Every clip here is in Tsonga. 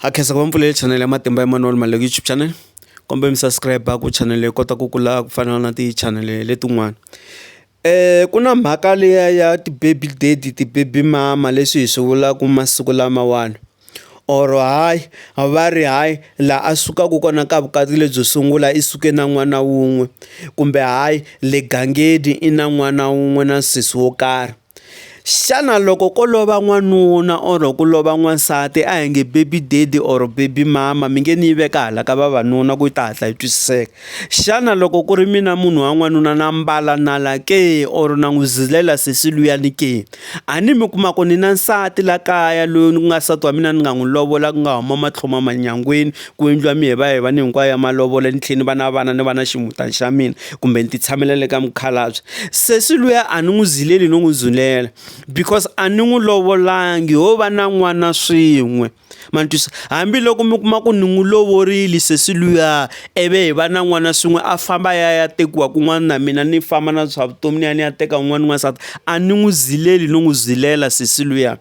ha khensa ku va mi pfulele chanele ya matimba Emmanuel Maluleke YouTube channel kombeni mi subscribe ku channel leyi kota ku kula ku fana na ti channel letin'wana um ku na mhaka liya ya ti-baby daddy ti-baby mama leswi hi swi vulaka masiku lamawani or hayi va ri hayi laha a sukaka kona ka vukati lebyo sungula i suke na n'wana wun'we kumbe hayi le gangeni i na n'wana wun'we na sesi wo karhi. Xana loko ko lova n'wanuna or ku lova n'wansati a hi nge baby daddy or baby mama mi nge ni yi veka hala ka vavanuna ku yi ta hatla yi twisiseka, xana loko ku ri mina munhu wa n'wanuna na mbala nala ke or na n'wi zilela sesi luyani ke? A ni mi kuma ku ni na nsati la kaya loyi ni ku nga nsati wa mina ni nga n'wi lovola ku nga huma matlhoma manyangweni. ku endliwa mi hi va hi va ni hinkwayo ya malovolo ni tlhela ni va na vana ni va na ximutana xa mina kumbe ni ti tshamela le ka mukhalabye sesi luya a ni n'wi zileli no n'wi zulela because a ni n'wi lovolangi ho va na n'wana swin'we ma ni twisa hambiloko mi kuma ku ni n'wi lovorile sesi luya ivi hi va na n'wana swin'we a famba ya ya tekiwa kun'wana na mina ni famba na swa vutomi ni ya ni ya teka un'wana n'wansati a ni n'wi zileli no n'wi zilela sesi luya.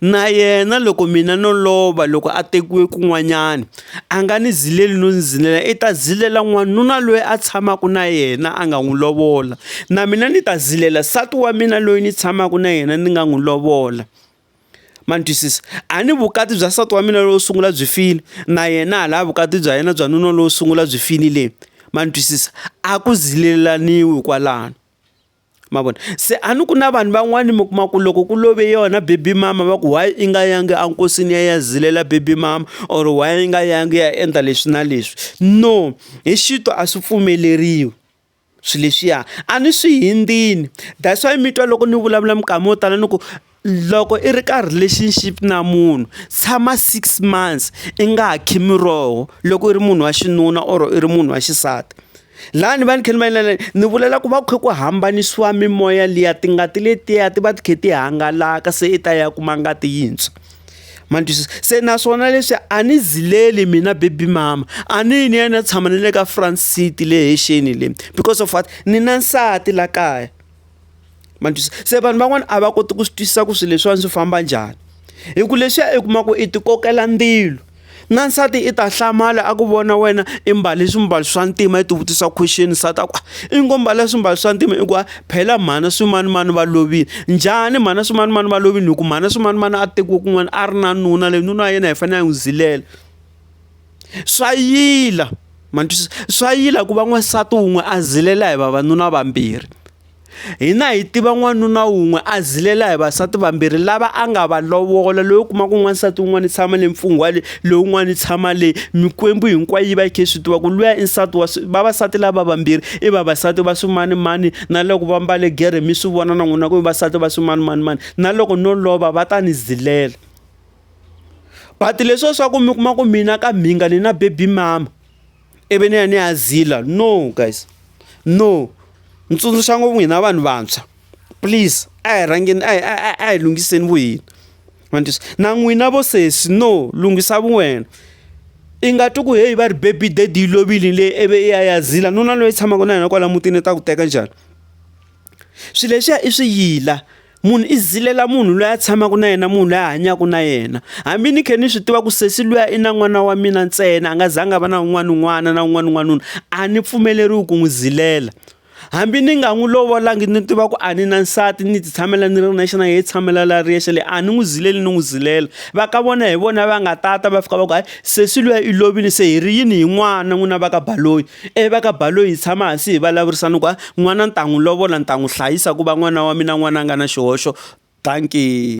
Na yena loko mina no lova loko a tekiwe kun'wanyana a nga ni zileli no ni zilela i ta zilela n'wanuna loyi a tshamaka na yena a nga n'wi lovola na mina ni ta zilela nsati wa mina loyi ni tshamaka na yena ni nga n'wi lovola ma ni twisisa a ni vukati bya nsati wa mina lowo sungula byi file na yena ha lava vukati bya yena bya nuna lowo sungula byi finile ma ni twisisa a ku zilelaniwa kwalano. ma vona se a ni ku na vanhu van'wani mi kuma ku loko ku love yona baby mama va ku why i nga yangi enkosini ya ya zilela baby mama or why i nga yangi ya endla leswi na leswi no hi xito a swi pfumeleriwi swilo leswiya a ni swi hindzini that's why mi twa loko ni vulavula minkama yo tala ni ku Loko i ri ka relationship na munhu tshama six months i nga ha kha miroho loko i ri munhu wa xinuna or i ri munhu wa xisati lani va ni kha ni va inana ni vulela ku va ku kha ku hambanisiwa mimoya liya tingati letiya ti va ti kha ti hangalaka se i ta ya kuma ngati yintshwa ma ni twisisa se naswona leswi a ni zileli mina baby mama a ni yi ni ya ni ya tshama na le ka front seat le hexeni le because of what ni na nsati la kaya. ma twisisa se vanhu van'wana a va koti ku swi twisisa ku swilo leswiwani swi famba njhani hi ku leswiya i kuma ku i ti kokela ndzilo na nsati i ta hlamala a ku vona wena i mbale swimbalo swa ntima i ti vutisa question nsati a ku ah, i ngo mbala swimbalo swa ntima i ku ah, phela mhana swimanimani va lovile njhani mhana swimanimani va lovile hi ku mhana swimanimani a tekiwe kun'wana a ri na nuna leyi nuna ya yena hi fanele a n'wi zilela Swa yila ma ni twisisa swa yila ku va n'wansati wun'we a zilela hi vavanuna vambirhi hina hi tiva n'wanuna wun'we a zilela hi vasati vambirhi lava a nga va lovola loyi u kuma ku n'wansati wun'wana i tshama le mfungwa le lowun'wana i tshama le mikwembu hinkwayo yi va yi kha yi swi tiva ku luya i nsati wa vavasati lava vambirhi i vavasati va swimanimani na loko va mbale gere mi swi vona na n'wina ku i vasati va swimanimani mani na loko no lova va ta ni zilela. but leswiya swa ku mi kuma ku mina ka mhinga ni na baby mama ivi ni ya ni ya zila no guys no, ni tsundzuxa ngopfu hina vanhu vantshwa please a hi rhangeni a hi a hi lunghiseni vu hina ma ni twisa na n'wina vo sesi no lunghisa vu wena i nga twi ku heyi va ri baby daddy yi lovile le ivi i ya ya zila nuna loyi tshamaka na yena kwala mutini ta ku teka njhani swilo leswiya i swi yila munhu i zilela munhu loyi a tshamaka na yena munhu loyi a hanyaka na yena hambi ni khe ni swi tiva ku sesi luya i na n'wana wa mina ntsena a nga zanga va na un'wana un'wana na un'wana un'wana a ni pfumeleriwi ku n'wi zilela hambi ni nga n'wi lovolangi ni tiva ku a ni na nsati ni ti tshamela ni ri nexe na yena tshamela la ri yexe le a ni n'wi zileli ni n'wi zilela va ka vona hi vona va nga tata va fika va ku hayi sesi luya i lovile se hi ri yini hi n'wana n'wina va ka baloyi E va ka Baloyi hi tshama hansi hi valavurisa ni ku a n'wana ni ta n'wi lovola ni ta n'wi hlayisa ku va n'wana wa mina n'wana a nga na xihoxo, dankie.